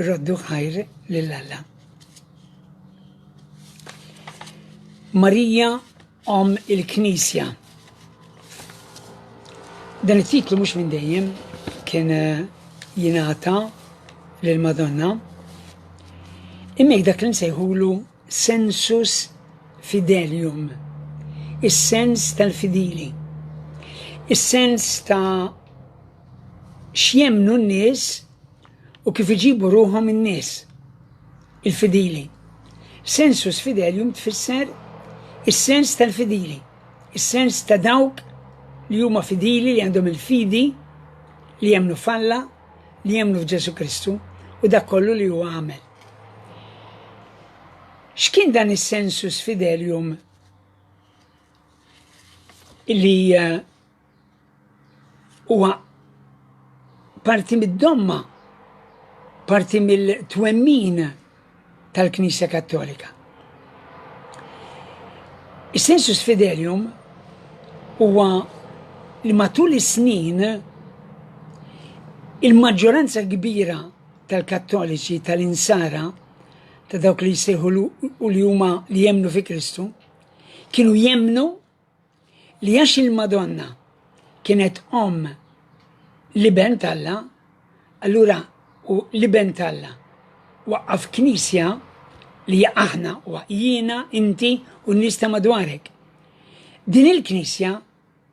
Raddu ħajr lil Alla. Marija Om il-Knisja. Dan it-titlu mhux minn dejjem kien eh, jingħata lil Madonna. Imma dak li nsejħulu sensus fidelium, is-sens tal-fidili, is-sens ta' x'jemmnu n-nies u kif iġibu ruħhom in-nies, il-fidili. Sensus fidelium tfisser is-sens tal-fidili, is-sens ta' dawk li huma fidili, li għandhom il-fidi, li jemmnu f'Alla, li jemmnu f'Ġesù Kristu u dak kollu li hu għamel. X'kien dan is-sensus fidelium li eh, huwa parti mid-domma, parti mill-twemmin tal-Knisja Kattolika. Is-sensus fidelium huwa li matul is-snin il-maġġoranza kbira tal-Kattoliċi, tal-Insara, ta' dawk li jissejħu u li huma li jemnu fi Kristu, kienu jemnu li għax il-Madonna kienet om li ben talla, allura u li ben talla waqqaf knisja li aħna u jiena, inti u nista madwarek. Din il-knisja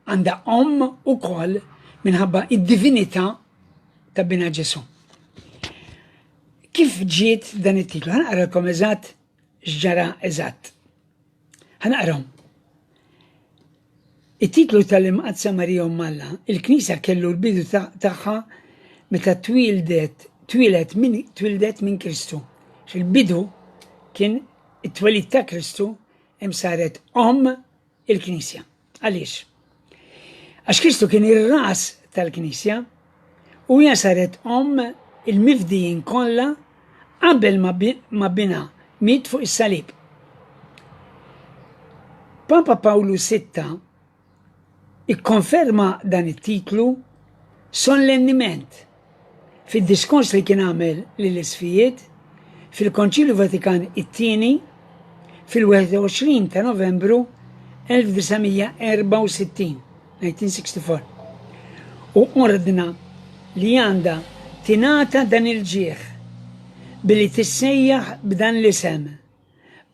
Għandha omm ukoll minħabba id-divinità ta' bina Ġesu. Kif ġiet dan it-titlu? Ħanaqralkom eżatt x'ġara eżatt. Ħanaqrom. It-titlu tal-Imqadsa Marija Malla, il-Knisja kellu l-bidu tagħha meta twildet twilet minn twildet minn Kristu. Fil-bidu kien it-twelid ta' Kristu hemm saret om il-Knisja. Għaliex? Għax Kristu kien ir-ras tal-Knisja u hija saret omm il-mifdijin kollha qabel ma binha miet fuq is-salib. Papa Pawlu VI ikkonferma dan it-titlu sollenniment Fid-diskors li kien għamel lill-Isqfijiet fil-Konċilju Vatikan it-Tieni fil-21 ta' Novembru 1964, 1964, hu ordna li għandha tingħata dan il-ġieħ billi tissejjaħ b'dan l-isem,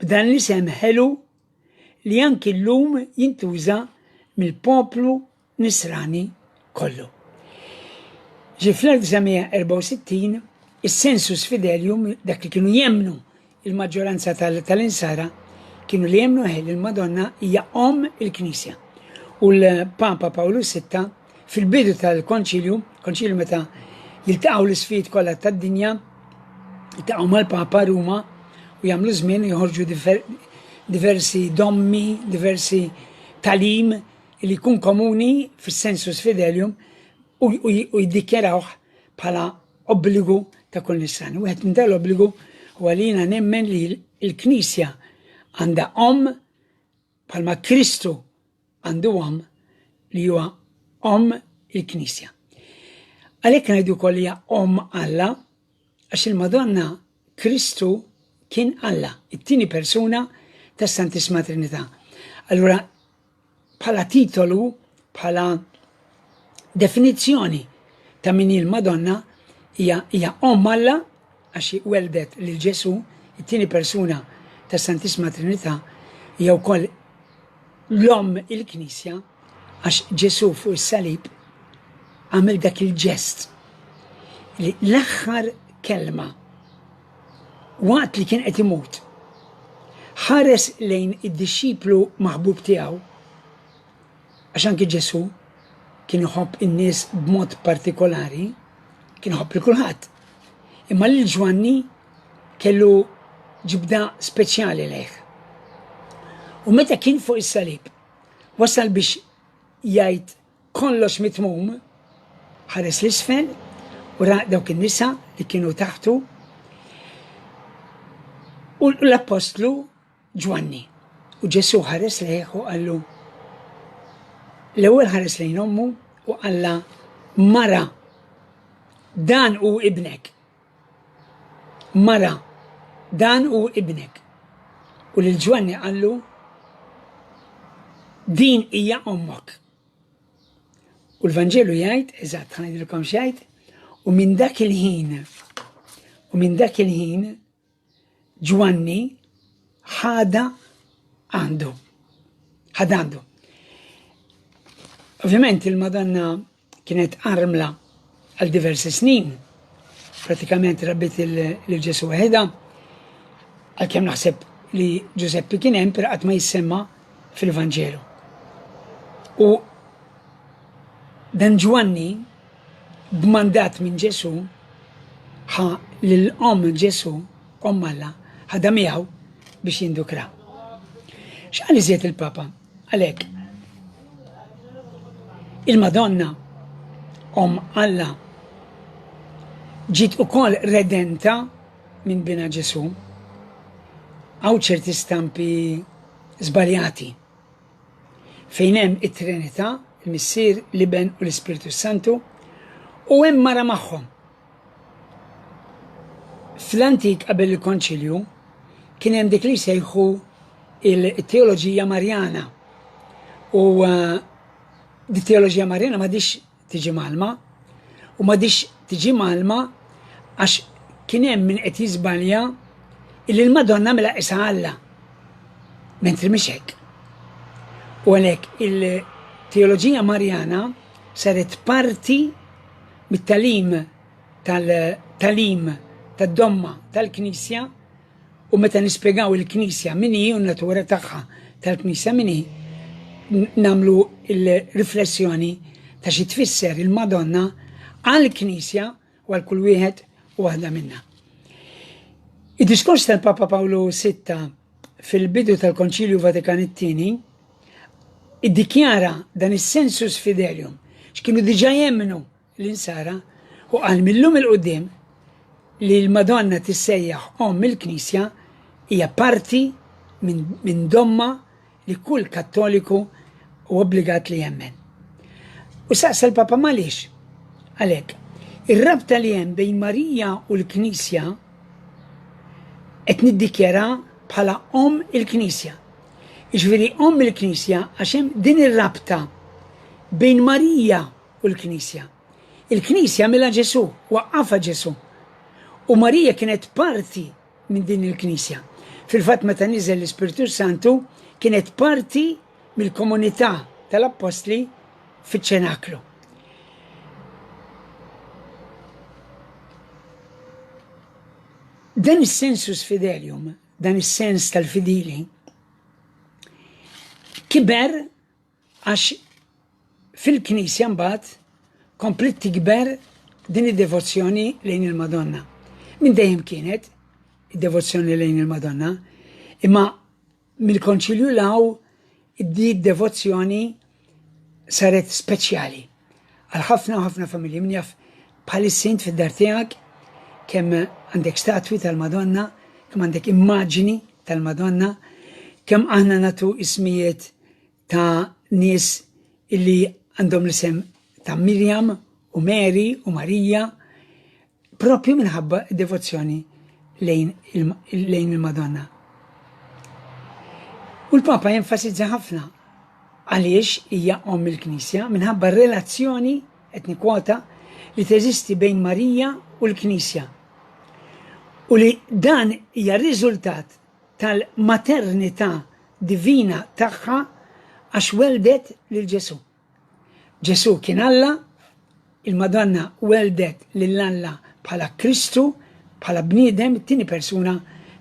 b'dan l-isem ħelu li anki llum jintuża mill-poplu Nisrani kollu. Ġie fl-1964 is-sensus fidelium, dak li kienu jemmnu il-maġġoranza tal-insara kienu li jemmnu li l-Madonna hija omm il-Knisja. U l-Papa Pawlu VI fil-bidu tal-konċilju, konċilju meta jiltaqgħu l-isfid kollha tad-dinja, jiltaqgħu mal-Papa Ruma u jagħmlu żmien joħorġu diversi dommi, diversi talim li jkun komuni fis-sensus fidelium u jiddikjarawh bħala obbligu ta' kull nisran. Wieħed minn dal-obbligu huwa li jiena nemmen li l-Knisja għandha om bħalma Kristu għandu om li huwa om il-Knisja. Għalhekk ngħidu wkoll hija om Alla Għax il-Madonna Kristu kien Alla, it-tieni persuna tas-Santissima Trinità. Allura bħala titolu, bħala definizzjoni ta' min il-Madonna hija Omm Alla għax weldet lil Ġesu, it-tieni persuna tas-Santissima Trinità, hija wkoll l-Omm il-Knisja Għax Ġesù fuq is-salib għamel dak il-ġest li l-aħħar kelma waqt li kien qed imut ħares lejn id-dixxiplu maħbub tiegħu għax anki Ġesù kien iħobb in-nies b'mod partikolari, kien iħobb lil kulħadd. Imma lil Ġwanni kellu ġibda speċjali lejh. U meta kien fuq is-salib, Wasal biex jgħid kollox mitmum, ħares l-isfel u ra dawk in-nisa li kienu taħtu u l-appostlu Ġwanni. U Ġesu ħares lejh u qallu l-ewwel ħares lejn ommu u qalla mara dan u ibnek. Mara, dan hu ibnek. U lil Ġwanni qallu, Din hija ommok. U l-Vanġelu jgħid, eżatt, ħa ngħidilkom x'jgħid, u minn dak il-ħin, u minn dak il-ħin, Ġwanni ħada għandu. Ħad għandu. Ovvjament il-Madonna kienet armla għal diversi snin. Pratikament rabbit il-Ġesu għedha, għal kem naħseb li Ġuseppi kien hemm qatt ma jissemma fil-Vanġelu. U dan Ġwanni B'mandat minn Ġesù, ħa lil omm Ġesù, Omm Alla, ħadha miegħu biex jindukrha. X'qal iżjed il-Papa? Qal hekk, Il-Madonna, Omm Alla, ġiet ukoll redenta minn Binha Ġesù. Hawn ċerti stampi żbaljati. fejn hemm it-Trinità, il-Missier, l-Iben u l-Ispirtu Santu, u hemm mara magħhom. Fl-antik qabel il-Konċilju kien hemm dik li jsejħu il-teoloġija Marjana. U uh, di teoloġija Marjana ma dix tiġi mgħallma u m'għadhiex tiġi mgħallma għax kien hemm min qed jiżbalja illi l-Madonna mela qisha Alla. Mentri mhix hekk. U għalhekk il-teoloġija Marjana saret parti mit-talim tal-talim tad-domma tal-Knisja U meta nispjegaw il-Knisja min hi u n-natura tagħha tal-Knisja min hi, nagħmlu l-riflessjoni ta' xi tfisser il-Madonna għall-Knisja u għal kull wieħed u waħda minna. Id-diskors tal-Papa Pawlu VI fil-bidu tal-Konċilju Vatikan it-Tieni iddikjara dan is-sensus fidelium x'kienu diġà jemmnu l-Insara, u qal mil-lum il-qudiem li l-Madonna tissejjaħ Omm il-Knisja hija parti minn domma li kull Kattoliku u obbligat li jemmen. U saqsa l-Papa Malix, għalhekk, ir-rabta li hemm bejn Marija u l-Knisja qed niddikjara bħala Omm il-Knisja. Iġviri Omm il-Knisja għax hemm din ir-rabta bejn Marija u l-Knisja. Il-Knisja għamilha Ġesù, waqqafha Ġesù. U Marija kienet parti minn din il-Knisja. Fil-fatt meta niżel l-Ispirtu Santu kienet parti mill-komunità tal-Appostli fiċ-ċenaklu. Dan is-sensus fidelium, dan is-sens tal-fidili, kiber Għax fil-Knisja mbagħad kompliet tikber din id-devozzjoni lejn il-Madonna. Minn dejjem kienet id-devozzjoni lejn il-Madonna, imma mill-Konċilju law id-devozzjoni saret speċjali. Għal ħafna u ħafna familji, min jaf bħalissa int fid-dar tiegħek kemm għandek statwi tal-Madonna, kemm għandek immaġini tal-Madonna, kemm aħna natu ismijiet ta' nies illi għandhom l-isem ta' Mirjam u Mary u Marija Proprju minħabba d-devozzjoni lejn il-Madonna. U l-Papa jenfasizza ħafna għaliex hija omm il-Knisja minħabba r-relazzjoni qed nikkwota li teżisti bejn Marija u l-Knisja. U li dan hija riżultat tal-maternità divina tagħha għax weldet lil Ġesù. Ġesù kien Alla, il-Madonna welldet lil Alla bħala Kristu, bħala bniedem, it-tieni persuna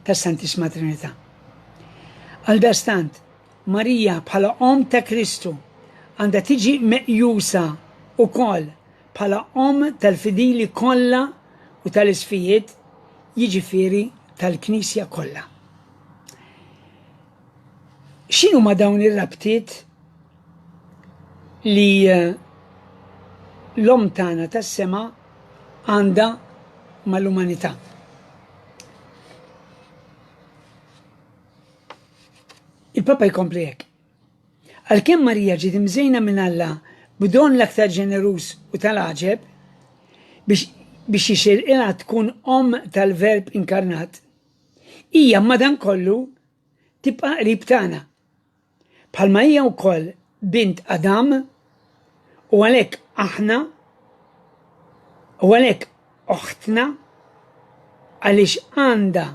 tas-Santissima Trinità. Għaldastant, Marija bħala Omm ta' Kristu għandha tiġi meqjusa wkoll bħala Omm tal-fidili kollha u tal-isfijiet, jiġifieri tal-Knisja kollha. X'inhuma dawn ir-rabtiet li l-Omm tagħna tas-sema għandha mal-umanità. Il-Papa jkompli hekk. Għalkemm Marija ġiet imżejna minn Alla b'don l-aktar ġeneruż u tal-għaġeb biex biex jixirqilha tkun omm tal-Verb inkarnat, hija madankollu tibqa' qrib tagħna. Bħalma hija wkoll bint Adam, u għalhekk aħna, u għalhekk oħtna, għaliex għandha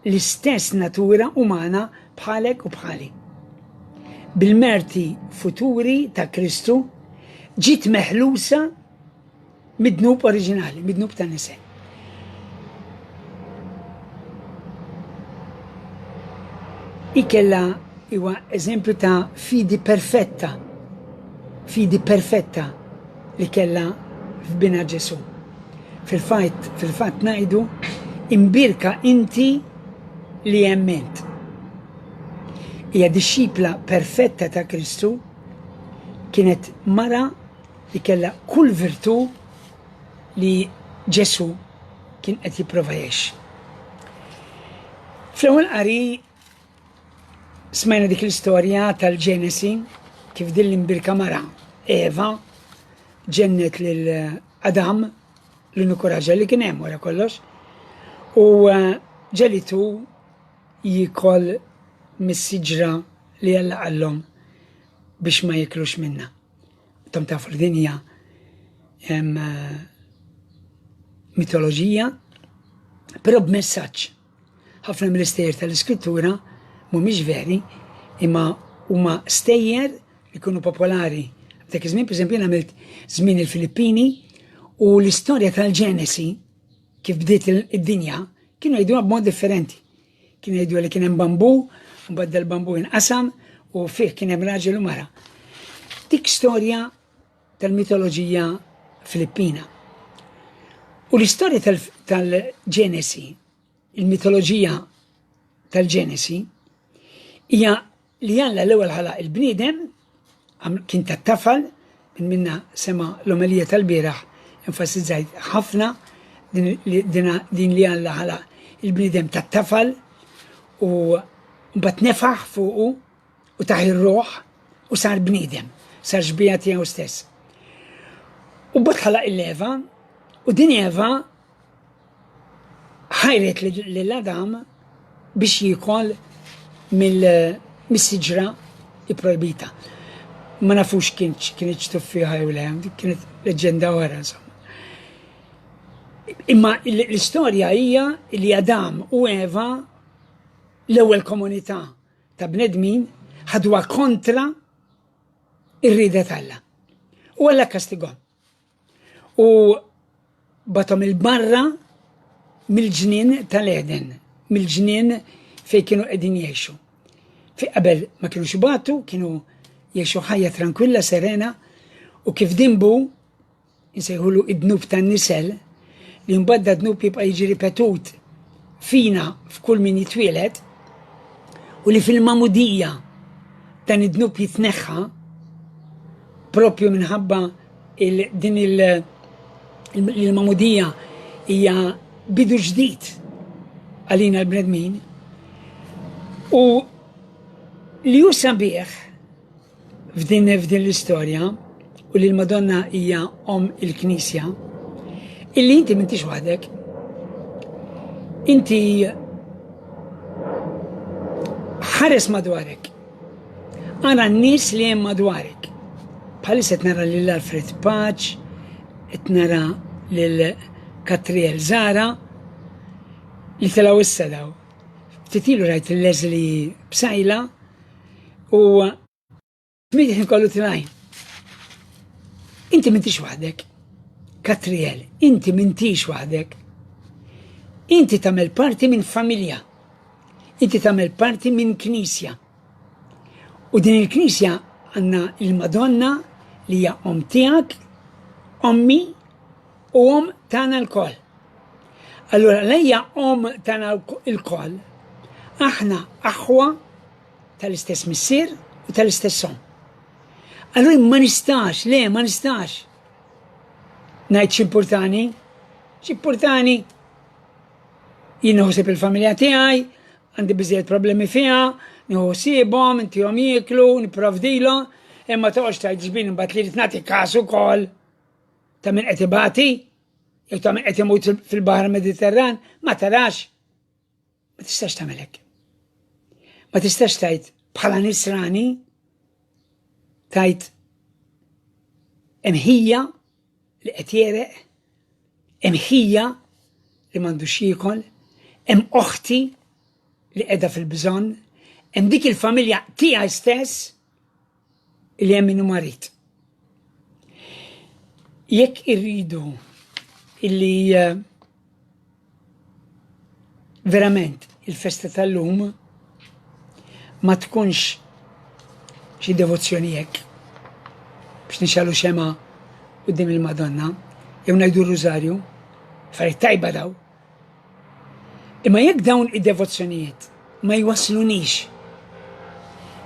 l-istess natura umana bħalek u bħali. Bil-merti futuri ta' Kristu, ġiet meħlusa Mid-dnub oriġinali, mid-dnub ta' nise. Ikella huwa eżempju ta' fidi perfetta, fidi perfetta li kella f'bina Ġesu. Fil-fajt, fil-fatt najdu, imbirka inti li jemment. Hija dixxipla perfetta ta' Kristu kienet mara Hi kellha kull virtù li Ġesù kien qed jipprova jgħix. Fl-ewwel qari smajna dik l-istorja tal-Ġenesi kif din l-imbirka mara Eva ġennet lil Adam l-uniku raġel li kien hemm wara kollox u eh, ġelitu jikol mis-siġra li Alla qallhom biex ma jiklux minna. Tom tafu li dinja hemm eh, mitoloġija, però b'messaġġ. Ħafna mill-istejjer tal-iskrittura mhumiex veri, imma huma stejjer li kunu popolari. Dak iż-żmien, pereżempju, għamilt żmien il-Filippini u l-istorja tal-Ġenesi kif bdiet id-dinja kienu jgħiduha b'mod differenti. Kien jgħidu li kien hemm bambu, mbagħad dal-bambu inqasam u fih kien hemm raġel u mara. Dik storja tal-mitoloġija Filippina. U l-istorja tal-Ġenesi, il-mitoloġija tal-Ġenesi, hija Li Alla l-ewwel ħalaq il-bniedem, għamlu kien tat-tafal, min minna sema' l-omelija tal-bieraħ enfasizzajt ħafna din li Alla ħalaq il-bniedem tat-tafal u mbagħad nefaħ fuqu u tah ir-ruħ u sar bniedem, sar xbieha tiegħu stess. U mbagħad ħalaq il-Eva u din Eva ħajret lil Adam biex jikol mill-siġra ipprojbita. Ma nafux kien kien ċtuffiħa jew le, kienet leġenda oħra insomma. Imma l-istorja hija li Adam u Eva l-ewwel komunità ta' bnedmin ħadwa kontra ir-rida tal-la. U għalla kastigom. U batom il-barra mill-ġnien tal-Eden, mill-ġnien fej kienu qegħdin jgħixu. Fi qabel ma kienu xibatu, kienu jgħixu ħajja tranquilla, serena, u kif dimbu nsejħulu id-dnub tan-nisel, li mbagħad da dnub jibqa' jiġi ripetut fina f'kull min jitwielet u li fil-mamudija dan id-dnub jitneħħa propju minħabba Din il-magħmudija hija bidu ġdid għalina l-bnedmin u li hu sabiħ f'din f'din l-istorja u li l-Madonna hija om il-Knisja illi inti m'intix waħdek. Inti ħares madwarek Ara n-nies li hemm madwarek. Bħalissa qed nara lil Alfred Paċ, qed nara lil Katriel Zara li telgħu issa daw. Ftit ilu rajt il-Leslie Bsajla u min ħin kollu tilajn. Inti mintix waħdek. Katriel, inti mintix waħdek. Inti tagħmel parti minn familja. Inti tagħmel parti minn Knisja. U din il-Knisja għandna il-Madonna li hija om tiegħek, ommi u om tagħna l-koll. Allura lejja om tagħna l-koll aħna aħwa tal-istess missier u tal-istess om. Allura ma nistax, le ma nistax. Ngħid x'importani? X'importani? Jien ħosib il-familja tiegħi, għandi biżejjed problemi fiha, nieħu ħsiebhom, intihom jieklu, nipprovdilhom, imma toqgħodx tgħid ġbin imbagħad li rid nagħti każ ukoll ta' min qed ibati, jew ta' min qed imut fil-Baħar Mediterran, ma tarax. Ma tistax tagħmel hekk. Ma tistax tajt bħala nisrani tajt imħija li qed jereq, imħija li m'għandux jiekol, hemm oħti li qiegħda fil-bżonn, hemm dik il-familja tiegħi stess li hemm min marid. Jekk irridu illi eh, verament il-festa tal-lum ma tkunx xi devozzjoni hekk biex nixalu xema qudiem il-Madonna jew ngħidu r-Rużarju, affarijiet tajba daw. Imma jekk dawn id-devozzjonijiet ma jwasslunix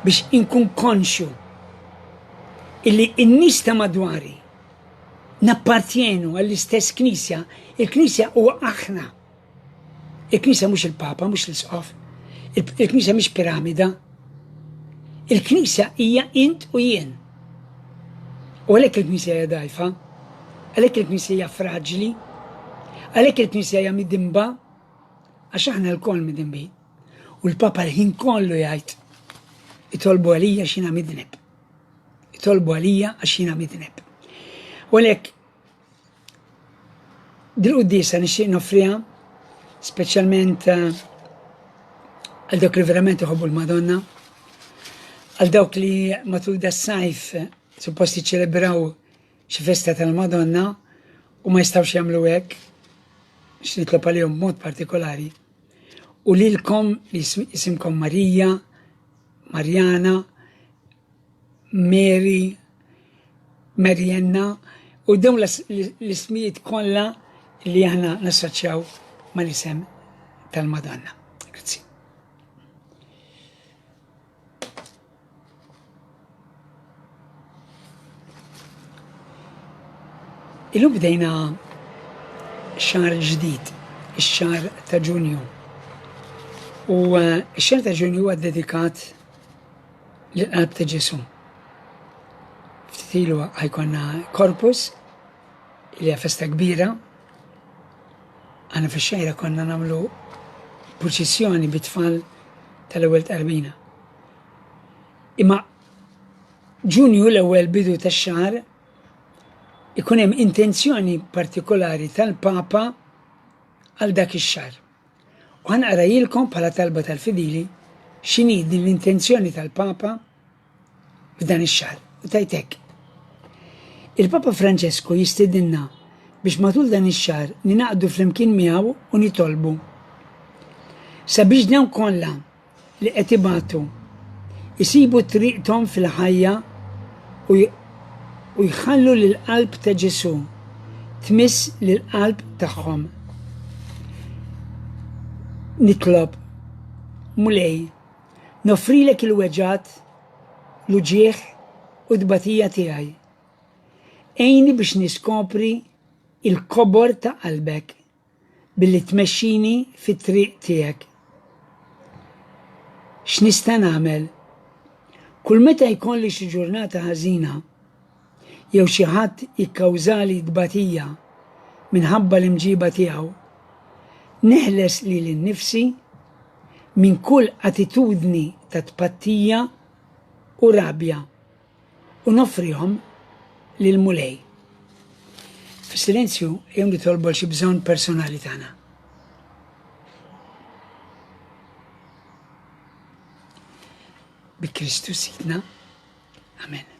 biex inkun konxju illi n-nies ta' madwari nappartjenu għall-istess Knisja, il-Knisja huwa aħna. Il-Knisja mhux il-Papa, mhux l-Isqof, il-Knisja mhix piramida. Il-Knisja hija int u jien. U għalhekk il-Knisja hija dgħajfa, għalhekk il-Knisja hija fraġli, għalhekk il-Knisja hija midimba, għax aħna lkoll midimbi. U l-Papa l-ħin kollu jgħid, itolbu għalija xina midneb. Itolbu għalija għax jina midneb. U għalhekk Dil-quddiesa nixtieq noffriha speċjalment eh, għal dawk li verament iħobbu l-Madonna, għal dawk li matul da sajf eh, suppost jiċċelebraw xi festa tal-Madonna u ma jistgħux jagħmlu hekk, x'nitlob għalihom mod partikolari. U lilkom li jisimkom Marija, Marjana, Mary, Marianna u dawn l-ismijiet kollha li aħna nassoċjaw mal-isem tal-Madonna. Grazzi. Illum bdejna xar ġdid, ix-xar ta' Ġunju. U eh, x-xar ta' Ġunju huwa dedikat l-qalb ta' Ġesu. Ftit ilu ħajkonna korpus li festa kbira. Għana fi xejra konna namlu proċessjoni bit-tfal tal-ewwel tqarbina. Imma ġunju l-ewwel bidu tax-xahar ikun hemm intenzjoni partikolari tal-Papa għal dak ix-xahar. U ħa naqrajilkom bħala talba tal-fidili x'inhi din l-intenzjoni tal-Papa f'dan ix-xahar. U tajt hekk. Il-Papa Franċesku jistedinna biex matul dan ix-xahar ninaqdu flimkien miegħu u nitolbu sabiex dawn kollha li qed ibatu, isibu triqthom fil-ħajja u jħallu li l-Qalb ta' Ġesù tmiss lill-qalb tagħhom. Nitlob, Mulej, noffrilek il-weġgħat, l-uġigħ u t-tbatija tiegħi. Għinni biex niskopri il-kobor ta' qalbek. billi tmexxini fit-triq tiegħek. X'nista' nagħmel? Kull meta jkolli xi ġurnata ħażina jew xi ħadd jikkawżali tbatija minħabba l-imġiba tiegħu, neħles lili nnifsi minn kull attitudni ta' tpattija u rabja. u noffrihom lill-Mulej. Fis-silenzju jom nitolbu għal xi bżonn personali tagħna. Bi Kristu Sidna. Amen.